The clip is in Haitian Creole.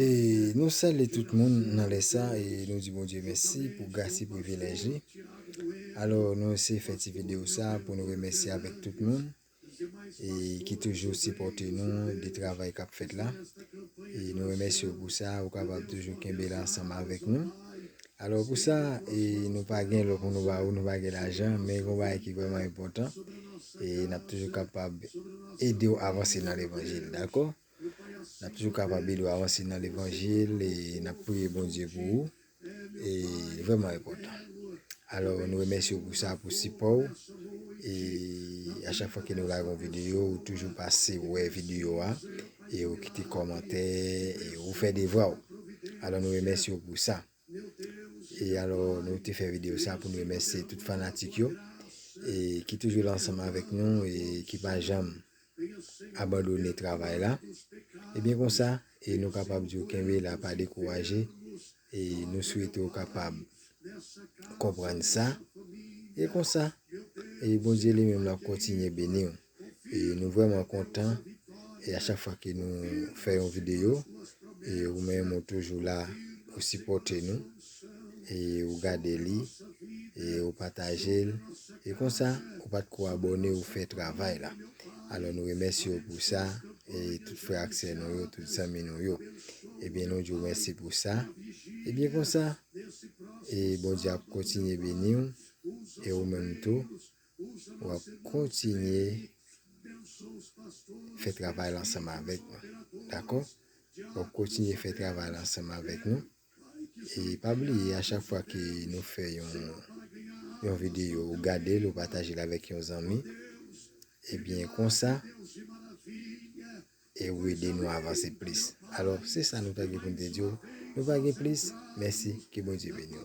E nou salye tout moun nan lè sa e nou di Bondye mèsi pou gras e privilèj li. Alò nou eseye fè ti videyo sa pou nou remèsye avèk tout moun e ki toujou sipòte nou de travay k ap fèt la. E nou remèsye w pou sa, ou kapab toujou kenbe la ansanm avèk nou. Alò pou sa e nou pa gen lò pou nou ba ou, nou pa gen lajan, men gen yon bagay ki vrèman enpòtan e n ap toujou kapab ede w avanse nan levanjil. Dakò? N ap toujou kapab ede w avanse nan levanjil e n ap priye Bondye pou ou. E li vrèman enpòtan. Alò nou remèsye w pou sa, pou sipò w. E a chak fwa ke nou lage yon videyo, ou toujou pase wè videyo a. e ou kite kòmantè e ou fè devwa ou. Alò nou remèsye ou pou sa. E alò nou te fè videyo sa pou nou remèsye tout fanatik yo e ki toujou la ansanm avèk nou e ki pa janm abandone travay la. E byen konsa e nou kapab di ou kenbe la pa dekouraje e nou swete ou kapab konprann sa e konsa e Bondye li menm la kontinye beni ou. E nou vrèman kontan e a chak fwa ke nou fè yon videyo e ou menm ou toujou la ou sipòte nou e ou gade li e ou pataje l e konsa ou pat ko abone ou fè travay la alò nou remèsye ou pou sa e tout frè ak sè nou yo tout zanmi nou yo ebyen nou di ou mèsi pou sa ebyen konsa e Bondye ap kontinye beni ou e ou menm tou wap kontinye fè travay la ansanm avèk nou. Dakò? Wap kontinye fè travay la ansanm avèk nou. E pa bliye a chak fwa ke nou fè yon yon video ou gade l ou pataje l avèk yon zanmi. Ebyen konsa e ou ede nou avanse plis. Alò se sa nou ta gen pou n te di w. Nou pa gen plis. Mèsi. Ke Bondye beni w.